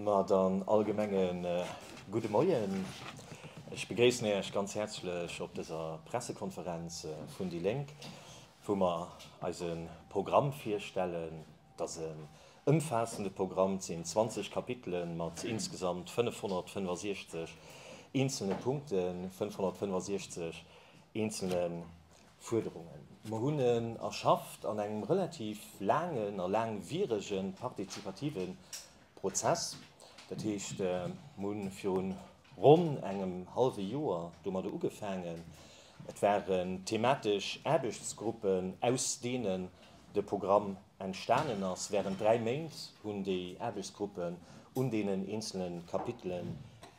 Ma dann allgemenge gudde Moien. Ech begréissen Iech ganz häerzlech op dëser Pressekonferenz vun déi Lénk, wou mer eise Programm virstellen. Et ass en ëmfaassende Programm, et sinn 20 Kapitele mat insgesamt 565 eenzelne Punkten, 565 eenzelne Fuerderungen. Mer hunn en erschafft an engem relativ laangen a laangwierege partizipative Prozess. Dat heescht, mer hu viru ronn engem hallwe Joer domadder ugefaangen. Et waren thematesch Aarbechtsgruppen, aus deenen de Programm entstanen ass. Wärend dräi Méint hunn déi Aarbechtsgruppen un deenen eenzele Kapitele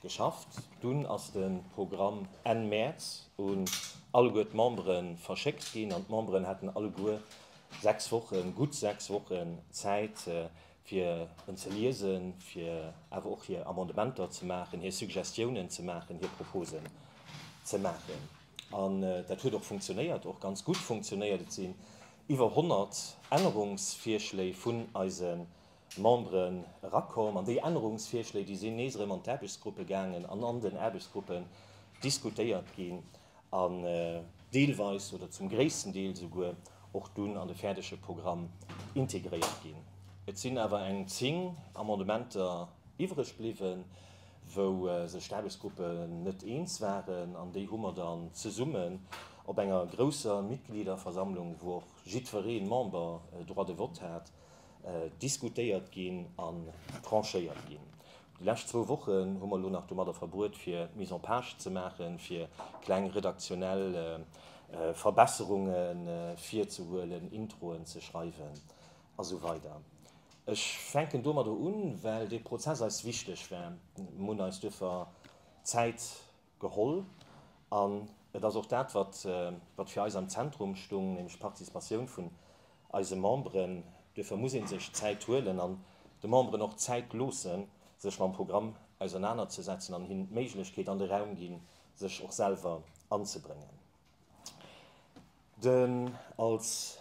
geschafft. Dunn ass de Programm Enn Mäerz un alleguer d'Membere verschéckt ginn an d'Memberen haten alleguer sechs Wochen, gutt sechs Wochen Zäit, fir en ze liesen, fir awer och hir Amendementer ze maachen, hir Suggestiounen ze maachen, hir Proposen ze maachen. An dat huet och funktionéiert, och ganz gutt funktionéiert. Et si iwwer 100 Ännerungsvirschléi vun eise Membere erakomm. An déi Ännerungsvirschléi, déi sinn nees erëm an d'Aarbechtsgruppe gaangen an an den Aarbechtsgruppen diskutéiert ginn an deelweis oder zum gréissten Deel esouguer och dunn an de fäerdege Programm integréiert ginn. Et sinn awer eng zéng Amendementer iwwreg bliwwen. wou sech d'Aarbechtsgruppen net eens waren, an déi hu mer dann zesummen op enger grousser Mitgliederversammlung, wou och jiddweree Member Droit de vote hat, diskutéiert ginn an tranchéiert ginn. Déi lescht zwou Wochen hu mer elo nach domadder verbruet, fir d'Mise en page ze maachen, fir kleng redaktionell Verbesserunge virzehuelen, Introen ze schreiwen. A sou weider. Ech fänken domadder un, well dee Prozess eis wichteg war. Mir hunn eis duerfir Zäit geholl an et ass och dat, wat fir eis am Zentrum stung, nämlech d'Participatioun vun eise Memberen. Duerfir muss ee sech Zäit huelen an de Memberen och Zäit loosse sech mam Programm ausernanerzesetzen an hinnen d'Méiglechkeet an de Raum ginn, sech och selwer anzebréngen. Den als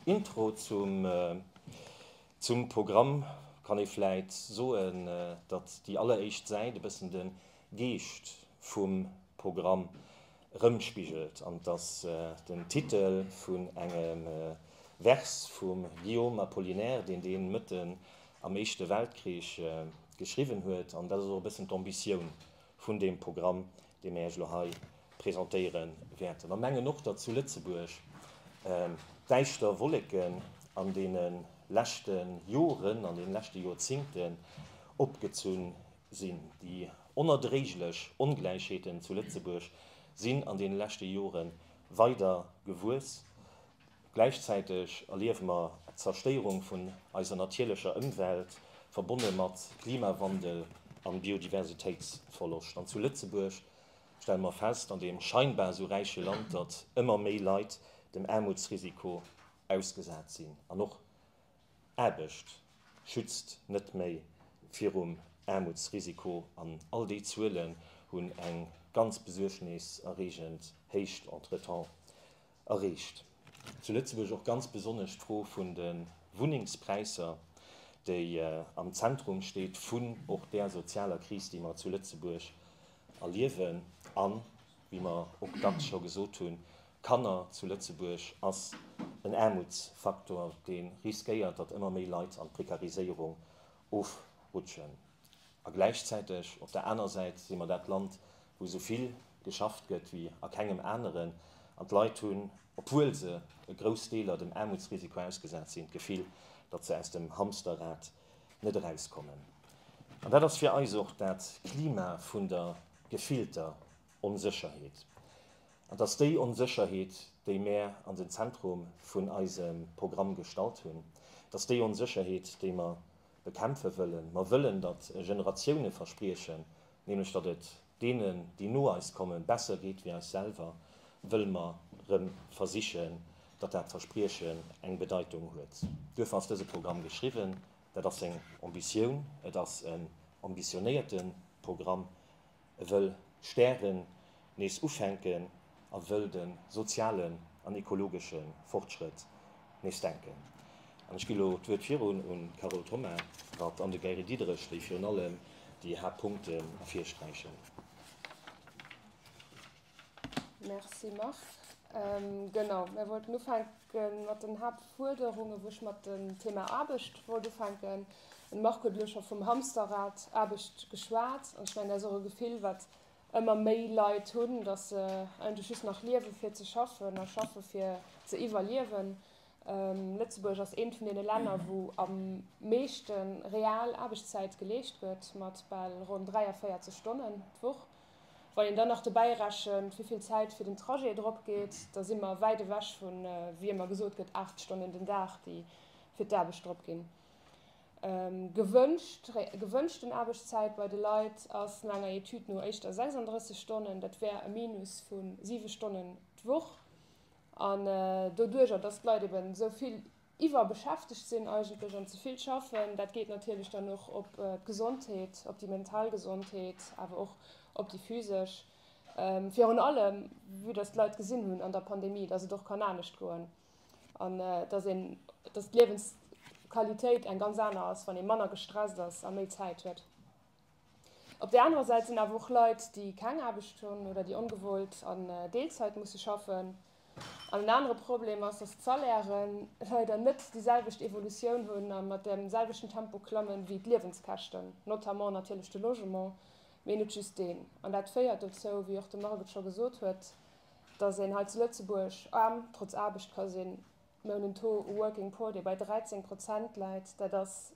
Intro zum zum Programm kann ee vläit soen, datt déi alleréischt Säit e bëssen de Geescht vum Programm rëmspigelt an datt den Titel vun engem Vers vum Guillaume Apollinaire, deen dee mëtten am Éischte Weltkrich geschriwwen huet, an dat ass och e bëssen d'Ambitioun vun deem Programm, dee mir Iech elo hei presentéiere wäerten, a mengen och, datt zu Lëtzebuerg d'däischter Wolleken an deene leschte Joren, an deene leschte Jorzingten opgezu sinn. Déi onerdréiglech Ongläichheeten zu Lëtzebuerg sinn an deene leschte Jore weider gewuess. Gläichzäiteg erliewe mer d'Zerstéierung vun eiser natierlecher Ëmwelt, verbonne mat Klimawandel a Biodiversitéitsverloscht. An zu Lëtzebuerg stelle mer fest, an deem scheinbar esou räiche Land, datt ëmmer méi Leit dem Aarmutsrisiko ausgesat sinn. An och Aarbecht schützt net méi virum Aarmutsrisiko. An all déi Zuelen hunn eng ganz besuergneserreegend Héicht entretemps Erreecht zu Lëtzebuerg och ganz besonnesch d'Fro vun de Wunnengspräisser, déi am Zentrum steet vun och där sozialer Kris, déi mer zu Lëtzebuerg erliewen. A wéi mer och dacks scho gesot hunn, Kanner zu Lëtzebuerg ass en Aarmutsfaktor, dee riskéiert, datt ëmmer méi Leit an d'Prekariséierung ofrutschen. A gläichzäiteg op der aner Säit si mer dat Land, wou esou vill geschafft gëtt wéi a kengem aneren. An d'Leit hunn, obwuel se e grouss Deeler dem Aarmutsrisiko ausgesat sinn, d'Gefill, datt se aus dem Hamsterrad net erauskommen. An dat ass fir eis och dat Klima vun der gefillter Onsécherheet. An 't ass déi Onsécherheet, déi mär an den Zentrum vun eisem Programm gestallt hunn. 't ass déi Onsécherheet, déi mer bekämpfe wëllen. Mer wëllen, datt Generatioune verspriechen, nämlech datt et deenen, déi no eis kommen, besser geet wéi eis selwer, wëlle mer erëm versichen, datt dat Verspriechen eng Bedeitung huet. Duerfir ass dëse Programm geschriwwen. Dat ass seng Ambitioun. Et ass en ambitionéierte Programm. wëll d'Stären nees ufänken a wëll de sozialen an ekologesche Fortschrëtt nees denken. An ech gi elo d'Wuert virun un d'Carole Thoma Rath an de Gary Diderich, déi virun allem déi Haaptpunkten ervirsträichen. Merci Marc. Genau, mir wollten ufänken mat den Haaptfuerderungen, wou ech mat dem Thema Aarbecht wollt ufänken. Den Marc huet elo scho vum Hamsterrad Aarbecht geschwat. An ech mengen, dat ass och e Gefill, wat ëmmer méi Leit hunn, datt se eigentlech just nach liewe fir ze schaffen a schaffe fir ze iwwerliewen. Lëtzebuerg ass eent vun deene Länner, wou am meeschte real Aarbechtszäit geleescht gëtt, mat bal ronn 43 Stonnen d'Woch. Wann een dann nach dobäi rechent, wéi vill Zäit fir den Trajet drop geet, da si mer wäit ewech vu wéi ëmmer gesot gëtt 8 Stonnen den Dag, déi fir d'Aarbecht drop ginn. Gewënscht, gewënschten Aarbechtszäit bei de Leit ass no enger Etüd no éischter 36 Stonnen, dat wär e Minus vu 7 Stonnen d'Woch. An doduerjer, datt d'Leit eben esou vill Iwwerbeschäftegt sinn eigentlech an ze vill schaffen, dat geet natierlech dann och op d'Gesondheet, op déi mental Gesondheet, awer och op déi physesch. Virun allem, vue dass d'Leit gesinn hunn an der Pandemie, dass et och kann anescht goen an dass een, dass d'Liewensqualitéit eng ganz aner ass, wann ee manner gestresst ass a méi Zäit huet. Op där anerer Säit sinn awer och Leit, déi keng Aarbecht hunn oder déi ongewollt a Deelzäit musse schaffen. An en anere Problem ass, datt d'Salairen leider net déi selwecht Evolutioun hunn a mat dem selwechten Tempo klammen wéi d'Liewenskäschten, notamment natierlech de Logement, mee net just deen. An dat féiert dozou, wéi och de Marc et scho gesot huet, datt een hei zu Lëtzebuerg aarm trotz Aarbecht ka sinn. Mir hunn en Taux u Working Poor, dee bei 13 Prozent läit. Dat ass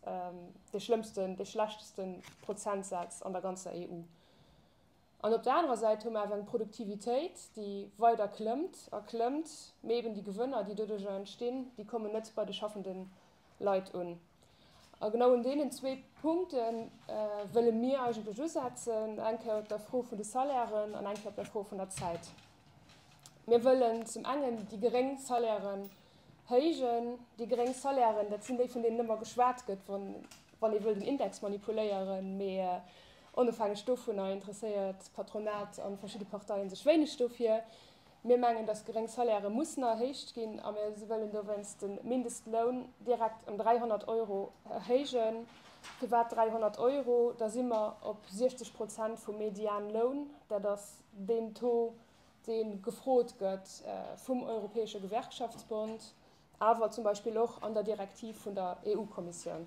dee schlëmmsten, dee schlechteste Prozentsaz an der ganzer EU. An op der anerer Säit hu mer awer eng Produktivitéit, déi weider klëmmt a klëmmt, mee eeben déi Gewënner, déi doduerjer entstinn, déi kommen net bei de schaffende Leit un. A genau un deenen zwee Punkte wëlle mir eigentlech usetzen, eng Kéier op der Fro vun de Salairen an eng Kéier op der Fro vun der Zäit. Mir wëllen zum engen déi geréng Salairen héijen. Déi geréng Salairen, dat sinn déi, vun deenen ëmmer geschwat gëtt, wann wann ee wëll den Index manipuléieren. Mee onofhängeg dovunner interesséiert d'Patronat an verschidde Parteien sech wéineg dofir. Mir mengen, datt geréng Salaire mussen erhéicht ginn a mir wëllen dowéinst de Mindestloun direkt ëm 300 Euro héijen. Firwat 300 Euro? Da si mer op 60 Prozent vum Medianloun. Dat ass Deen Taux, dee gefrot gëtt vum Europäesche Gewerkschaftsbond, awer zum Beispill och an der Direktiv vun der EU-Kommissioun.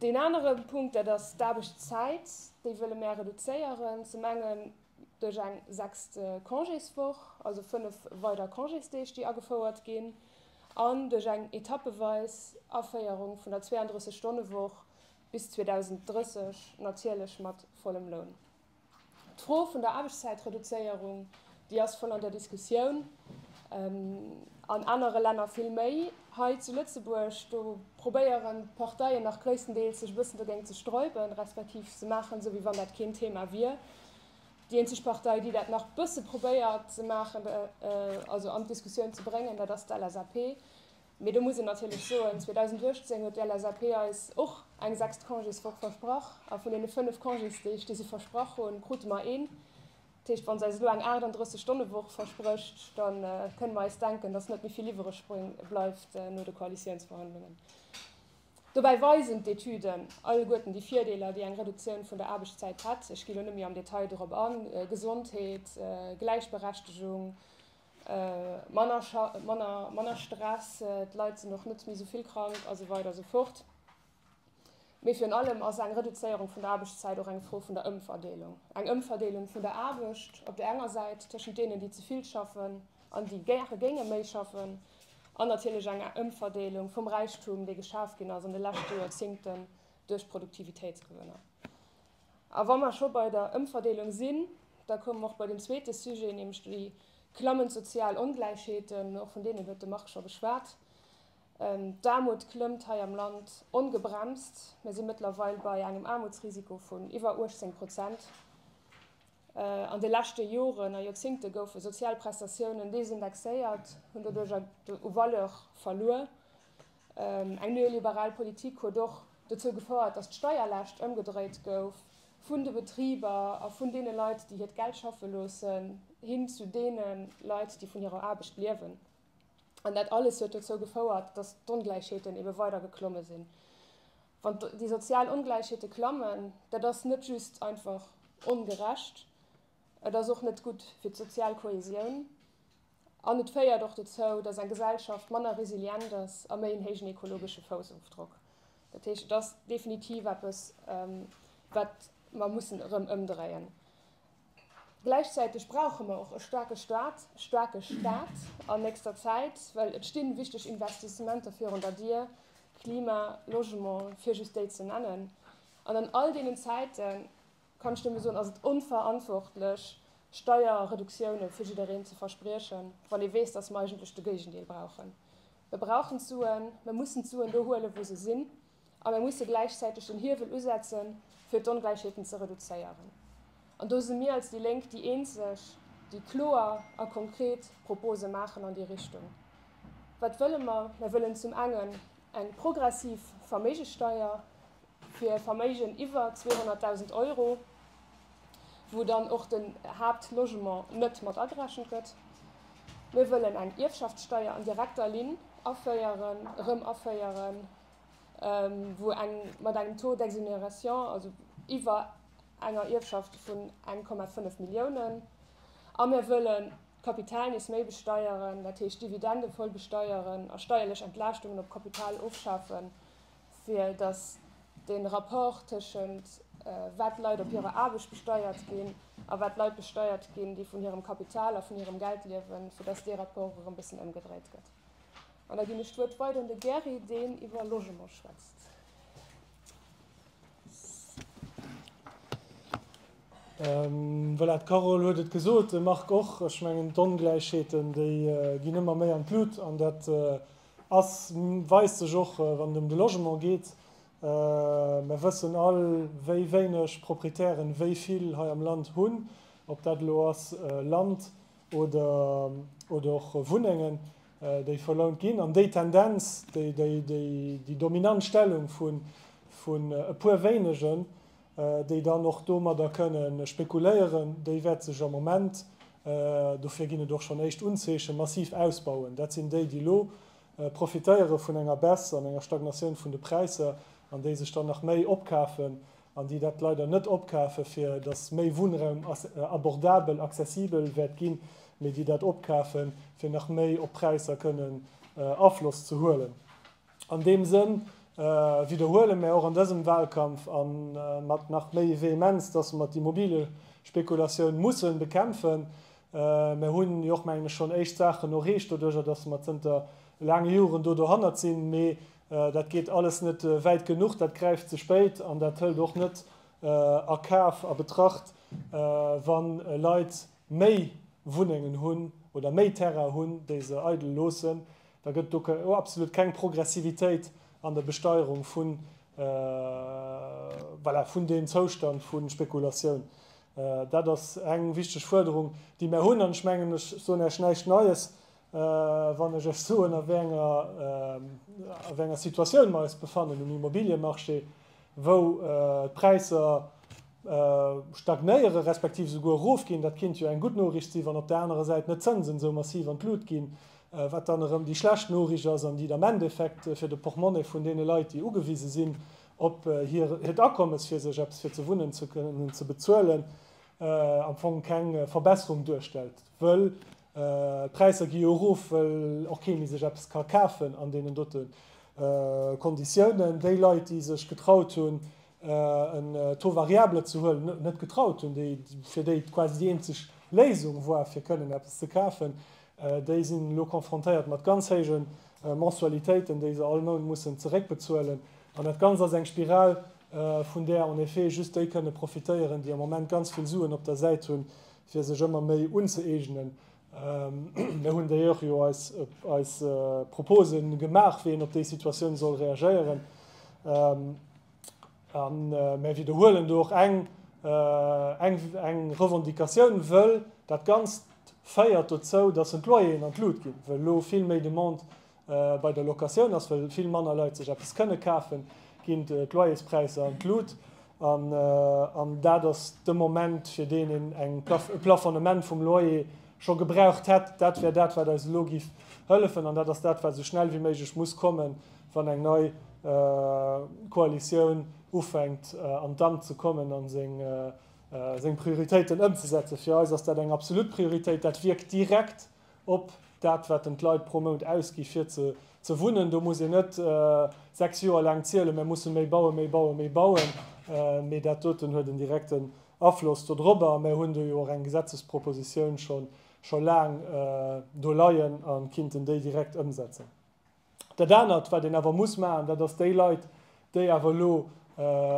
Deen anere Punkt, dat ass d'Aarbechtszäit. Déi wëlle mär reduzéieren, zum engen duerch eng sechst Congéswoch, also fënnef weider Congésdeeg, déi agefouert ginn, an duerch eng etappeweis Aféierung vun der 32-Stonne-Woch, bis 2030 natierlech mat vollem Loun. D'Fro vun der Aarbechtszäitreduzéierung, déi ass voll an der Diskussioun, an anere Länner vill méi. Hei zu Lëtzebuerg, do probéieren d'Parteien nach gréisstendeels sech e bëssen dogéint ze sträuben, respektiv se maachen esou, wéi wann dat keen Thema wier. Déi eenzeg Partei, déi dat nach e bësse probéiert ze maachen, also an d'Diskussioun ze bréngen, dat ass d'LSAP. Mee do muss een natierlech soen, 2018 huet d'LSAP eis och eng sechst Congéswoch versprach a vun deene fënnef Congésdeeg, déi se versprach hunn, krute mer een. Dat heescht, wa se eis elo eng 38 Stonne-Woch versprécht, da kënne mer eis denken, datt net méi vill iwwereg bleift no de Koalitiounsverhandlungen. Dobäi weisen d'Etüden alleguerten déi Virdeeler, déi eng Reduktioun vun der Aarbechtszäit hätt. Ech gi lo net méi am Detail dorop an, Gesondheet, Gläichberechtegung, manner Stress, d'Leit sinn och net méi esou vill krank a sou weider a sou fort. Mee virun allem ass eng Reduzéierung vun der Aarbechtszäit och eng Fro vun der Ëmverdeelung. Eng Ëmverdeelung vun der Aarbecht op der enger Säit tëschent deenen, déi ze vill schaffen an déi gäre géinge méi schaffen, an natierlech eng Ëmverdeelung vum Räichtum, dee geschaf ginn ass an de leschte Joerzéngten duerch Produktivitéitsgewënner. A wa mer scho bei der Ëmverdeelung sinn, da komme mer och bei den zweete Sujet, nämlech déi klammend sozial Ongläichheeten. Och vun deenen huet de Marc scho geschwat. D'Aarmut klëmmt hei am Land ongebremst. Mir si mëttlerweil bei engem Aarmutsrisiko vun iwwer 18 Prozent. An de leschte Joren a Joerzéngte goufe sozial Prestatiounen desindexéiert, hunn doduerch u Valeur verluer. Eng neoliberal Politik huet och dozou gefouert, datt d'Steierlaascht ëmgedréit gouf, vun de Betriber a vun deene Leit, déi hiert Geld schaffe loossen, hin zu deene Leit, déi vun hirer Aarbecht liewen. An dat alles huet dozou gefouert, datt d'Ongläichheeten ebe weider geklomme sinn. Wann déi sozial Ongläichheete klammen, dat ass net just einfach ongerecht, et ass och net gutt fir d'sozial Kohäsioun. An et féiert och dozou, datt eng Gesellschaft manner resilient ass a méi en héijen ekologesche Foussofdrock. Dat heescht, et ass definitiv eppes, wat mer mussen erëm ëmdréien. Gläichzäiteg brauche mer och e staarke Stat, e staarke Stat an nächster Zäit, well et sti wichteg Investissementer virun der Dier, Klima, Logement, fir just déi ze nennen. An an all deenen Zäiten, Kann ech dir mol soen, ass et onverantwortlech, Steierreduktioune fir jiddereen ze verspriechen, wann ee weess, dass mer eigentlech de Géigendeel brauchen. Mer brauchen d'Suen, mer mussen d'Suen do huelen, wou se sinn, a mer musse gläichzäiteg den Hiewel usetzen, fir d'Ongläichheeten ze reduzéieren. An do si mir als déi Lénk déi Eenzeg, déi kloer a konkret Propose maachen an déi Richtung. Wat wëlle mer? Mer wëllen zum engen eng progressiv Verméigesteier, fir e Verméigen iwwer 200.000 Euro, wou dann och den Haaptlogement net mat agerechent gëtt. Mir wëllen eng Ierfschaftssteuer an direkter Linn aféieren, erëm aféieren, wou eng mat engem Taux d'exonération, also iwwer enger Ierfschaft vun 1,5 Milliounen. A mir wëllen d'Kapital nees méi besteieren, dat heescht d'Dividende voll besteieren a steierlech Entlaaschtungen op Kapital ofschafen, fir datt de Rapport tëschent wat d'Leit op hirer Aarbecht besteiert ginn a wat d'Leit besteiert ginn, déi vun hirem Kapital a vun hirem Geld liewen, fir datt dee Rapport erëm e bëssen ëmgedréit gëtt. An da ginn ech d'Wuert weider un de Gary, deen iwwer Logement schwätzt. Voilà, d'Carole huet et gesot, de Marc och. Ech mengen, d'Ongläichheeten, déi ginn ëmmer méi an d'Lut. An dat Ass, weist sech och wann et ëm de Logement geet. Mer wëssen all, wéi wéineg Proprietären wéi vill hei am Land hunn, ob dat elo ass Land oder och Wunnengen, déi verlount ginn. An déi Tendenz, déi dominant Stellung vun e puer wéinegen, déi dann och domadder kënne spekuléieren, déi wäerte sech am Moment, dofir ginn et och schonn éischt Unzeechen, massiv ausbauen. Dat sinn déi, déi elo profitéiere vun enger Baisse an enger Stagnatioun vun de Präisser an déi sech dann nach méi opkafen an déi dat leider net opkafen, fir datt méi Wunnraum abordabel, accessibel wäert ginn, mee déi dat opkafen, fir nach méi op d'Präisser kënnen Afloss ze huelen. An deem Sënn widderhuele mär och an dësem Wahlkampf a mat nach méi Vehemenz, dass mer d'Immobiliespekulatioun musse bekämpfen. Mär hunn jo och, mengen ech, schonn éischt Saachen erreecht doduerjer, dass mer zënter laange Joren do dohannert sinn. Mee dat geet alles net wäit genuch, dat gräift ze spéit an dat hëlt och net a Kaf, a Betracht, wa Leit méi Wunnengen hunn oder méi Terraine hunn, déi se eidel loossen, da gëtt do absolut keng Progressivitéit an der Besteierung vu, voilà, vun deem Zoustand vu Spekulatioun. Dat ass eng wichteg Fuerderung, déi mär hunn. An ech mengen, ech soen Iech näischt Neies, Wann ech ech soen, a wéi enger, a wéi enger Situatioun mer eis befannen um Immobiliëmarché, wou d'Präisser stagnéiere respektiv esouguer erofginn, dat kéint jo eng gutt Noriicht sinn, wann op där anerer Säit net d'Zënsen esou massiv an d'Lut ginn, wat dann erëm déi schlecht Noriicht ass an déi am Endeffekt fir de Portmonnaie vun deene Leit, déi ugewise sinn op hiert Akommes, fir sech eppes fir ze wunnen ze kënnen ze bezuelen, am Fong keng Verbesserung duerstellt. Wëll d'Präisser gi jo erof, wëll och kee méi sech eppes ka kafen an deenen dote Konditiounen. Déi Leit, déi sech getraut hunn, en Taux variable ze huelen, net getraut hunn, déi, fir déi et quasi déi eenzeg Léisung war, fir kënnen eppes ze kafen, déi sinn elo konfrontéiert mat ganz héije Mensualitéiten, déi se all Mount mussen zeréckbezuelen. An dat Ganzt ass eng Spiral, vun där en effet just déi kënne profitéieren, déi am Moment ganz vill Suen op der Säit hunn, fir sech ëmmer méi unzëeegnen. Mir hunn déi Joer jo eis Propose gemaach, wéi een op déi Situatioun soll reagéieren. A mir widderhuelen do och eng Revendicatioun, wëll dat Ganzt féiert dozou, dass en d'Loyeren an d'Lut ginn, wëll elo vill méi Demande Bei der Locatioun ass, wëll vill manner Leit sech eppes kënne kafen, ginn d'Loyerspräisser an d'Lut. An dat ass de Moment, fir deen een eng e Plafonnement vum Loyer scho gebraucht hätt. Dat wär dat, wat eis elo giff hëllefen. An dat ass dat, wat esou schnell wéi méiglech muss kommen, wann eng nei Koalitioun ufänkt an d'Amt ze kommen a seng Prioritéiten ëmzesetzen. Fir eis ass dat eng absolut Prioritéit. Dat wierkt direkt. op dat, wat en d'Leit pro Mount ausgi fir ze wunnen. Do muss een net sechs Joer laang zielen, Mir mussen méi bauen, méi bauen, méi bauen, mee dat doten huet en direkten Afloss dodrobber. A mir hunn do jo och eng Gesetzespropositioun scho laang do leien a kinnten déi direkt ëmsetzen. Dat anert, wat een awer muss maachen, dat ass déi Leit, déi awer elo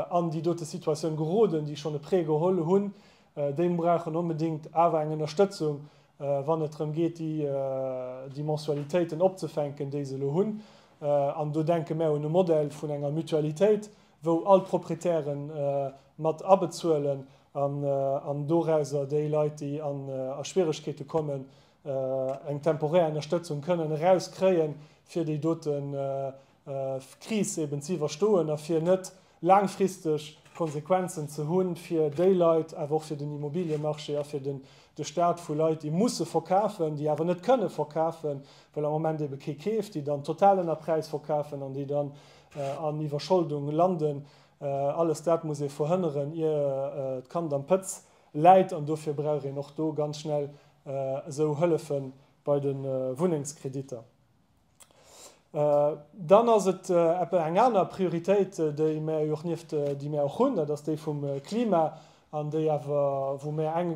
an déi dote Situatioun geroden, déi schonn e Prêt geholl hunn, déi brauchen onbedéngt awer eng Ënnerstëtzung, wann et drëm geet, déi Mensualitéiten opzefänken, déi se elo hunn. An do denke mär un e Modell vun enger Mutualitéit, wou all d'Proprietäre mat abezuelen an dorauser déi Leit, déi a Schwieregkeete kommen, eng temporär Ënnerstëtzung kënnen erauskréien, fir déi dote Kris eben ze iwwerstoen a fir net laangfristeg Konsequenzen ze hu fir déi Leit, awer och fir den Immobiliemarché a fir de Stat, vu Leit, déi musse verkafen, déi awer net kënne verkafen, well am Moment ebe kee keeft, déi dann total ënner Präis verkafen an déi dann an Iwwerscholdung landen. Alles dat muss ee verhënneren, ier d'Kand am Pëtz läit an dofir brauch een och do ganz schnell esou Hëllefe bei de Wunnengskrediter. Dann ass et eng aner Prioritéit, déi mär jo och nieft, déi mär och hunn, dat ass déi vum Klima an déi awer, wou mär eng,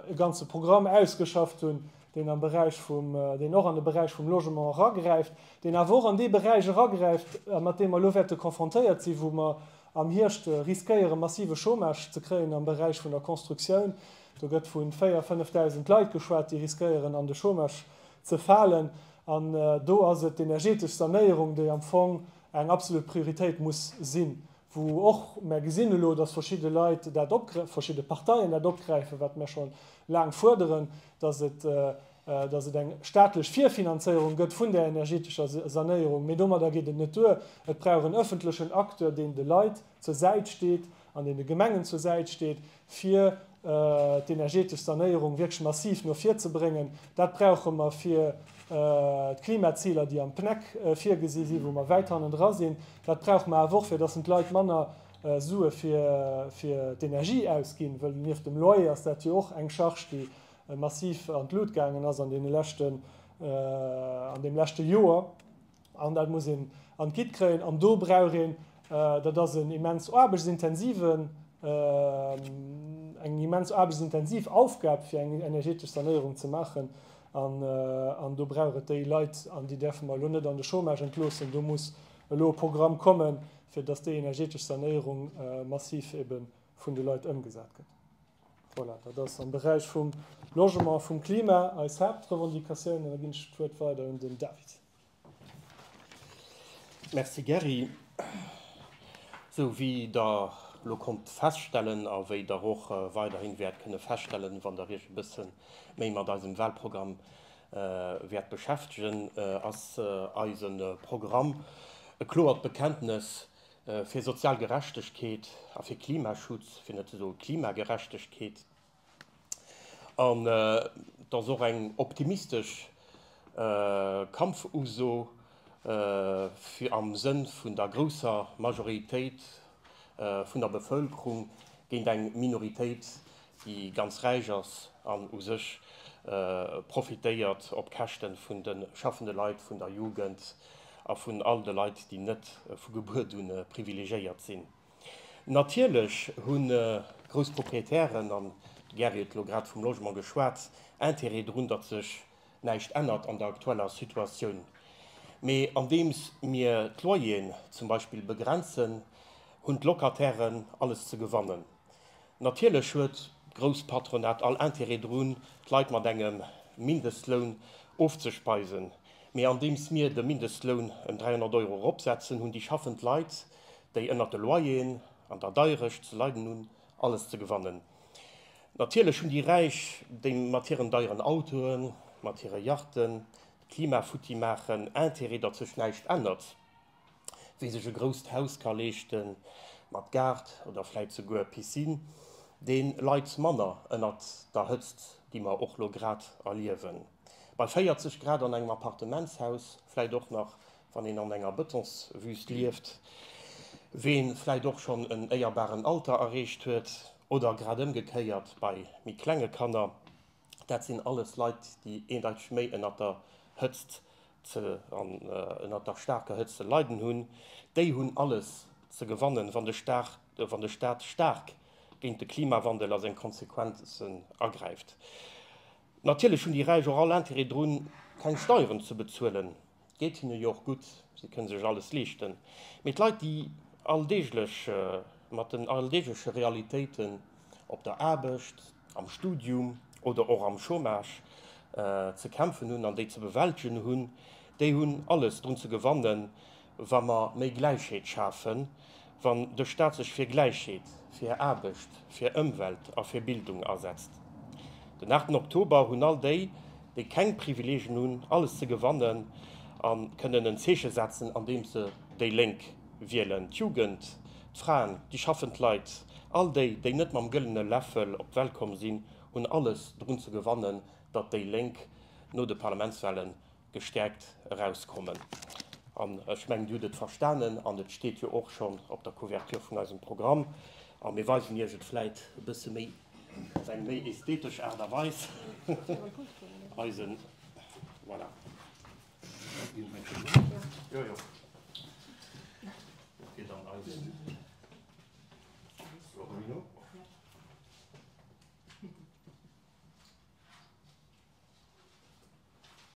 e ganze Programm ausgeschafft hunn, deen am Beräich vum, deen och an de Beräich vum Logement eragräift, deen awer och an dee Beräich eragräift, mat deem mer elo wäerte confrontéiert sinn, wou mer Am Hierscht riskéiere massive Chômage ze kréien am Beräich vun der Constructioun. Do gëtt vu 4 a 5.000 Leit geschwat, déi riskéieren an de Chômage ze falen. An do ass et d'energetesch Sanéierung, déi am Fong eng absolut Prioritéit muss sinn, wou och mer gesinn elo, datt verschidde Leit dat op, verschidde Parteien dat opgräifen, wat mer scho laang fuerderen, datt et, datt et eng staatlech Virfinanzéierung gëtt vun där energetescher Sanéierung, mee domadder geet et net duer. Et brauch en ëffentlechen Acteur, deen de Leit zur Säit steet an deen de Gemengen zur Säit steet, fir d'energetesch Sanéierung wierklech massiv no vir ze bréngen. Dat brauche mer fir d'Klimaziler, déi am PNEC virgesi sinn, wou mer wäit hannendra sinn. Dat brauche mer awer och, fir datt en d'Leit manner Sue fir d'Energie ausginn, wëll nieft dem Loyer ass dat jo och eng Charge, déi massiv an d'Lut gaangen ass an deene leschten, an deem leschte Joer, an dat muss een an d'Guide kréien. An do brauch een, dat ass en immens aarbechtsintensiven, eng immens aarbechtsintensiv Aufgab, fir eng energeetesch Sanéierung ze maachen, an do brauch et déi Leit, an déi däerfe mer elo net an de Chômage entloossen. Do muss elo e Programm kommen, fir datt déi energeetesch Sanéierung massiv ebe vun de Leit ëmgesat gëtt. Voilà, dat ass am Beräich vum Logement, vum Klima eis Haaptrevendicatioun. An da ginn ech d'Wuert weider un den David. Merci Gerry. Esou wéi Der elo konnt feststellen a wéi Der och weiderhin wäert kënne feststellen, wann Der Iech e bësse méi mat eisem Wahlprogramm wäert beschäftegen, ass eise Programm e kloert Bekenntnes Fir sozial Gerechtegkeet a fir Klimaschutz, fir net ze soe Klimagerechtegkeet. An et ass och eng optimistesch Kampfuso fir am Sënn vun der grousser Majoritéit vun der Bevëlkerung géint eng Minoritéit déi ganz räich ass an u sech profitéiert op Käschten vun de schaffende Leit, vun der Jugend a vun all de Leit, déi net vu Gebuert un privilegéiert sinn. Natierlech hu grouss Proprietären, an de Gary huet elo grad vum Logement geschwat, Intérêt drun, datt sech näischt ännert an der aktueller Situatioun. Mee andeems mir d'Loyeren zum Beispill begrenzen, hunn d'Locatairen alles ze gewannen. Natierlech huet d'Grousspatronat all Intérêt drun, d'Leit mat engem Mindestloun ofzespeisen. Mee andeems mir de Mindestloun ëm 300 Euro eropsetzen, hunn déi schaffend Leit, déi ënnert de Loyeren an der Deierecht ze leiden hunn, alles ze gewannen. Natierlech hunn déi Räich, déi mat hiren deieren Autoen, mat hire Yachten d'Klima futti maachen, Intérêt, datt sech näischt ännert. Wie sech e grousst Haus ka leeschte mat Gaart oder vläit souguer Piscine, dee leit manner ënnert der Hëtzt, déi mer och lo grad erliewen. Bei 40 Grad an engem Appartementshaus, vläit och nach wann een an enger Betonswüst lieft, wee vläit och schonn en éierbaren Alter erreecht huet, oder grad ëmgekéiert bei méi klenge Kanner, Dat sinn alles Leit, déi eendeiteg méi ënnert der Hëtzt ze, an ënnert der staarker Hëtzt ze leiden hunn. Déi hunn alles ze gewannen, wann de Staat, wann de Staat staark géint de Klimawandel a seng Konsequenzen agräift. Natierlech hunn déi Räich och all Intérêt drun, keng Steieren ze bezuelen. Geet hinne jo och gutt, si kënne sech alles leeschten. Mee d'Leit, déi alldeeglech mat den alldeegleche Realitéiten op der Aarbecht, am Studium oder och am Chômage ze kämpfen hunn an déi ze bewältegen hunn, déi hunn alles drun ze gewannen, wa mer méi Gläichheet schafen. wann de Staat sech fir Gläichheet, fir Aarbecht, fir Ëmwelt a fir Bildung asetzt. Den 8 Oktober hunn all déi, déi keng Privileegien hunn, alles ze gewannen a kënnen en Zeeche setzen, andeems se déi Lénk wielen, d'Jugend, d'Fraen, déi schaffend Leit, all déi, déi net mam gëllene Läffel op d'Welt komm sinn, hunn alles drun ze gewannen, datt déi Lénk no de Parlamentswahlen gestäerkt erauskommen. An ech mengen, Dir hutt et verstanen an et steet jo och schonn op der Couverture vun eisem Programm. A mir weisen Iech et vläit e bësse méi op eng méi ästhetesch Aart a Weis. Eisen, voilà. Jo, jo. Dat geet an eisen Florino.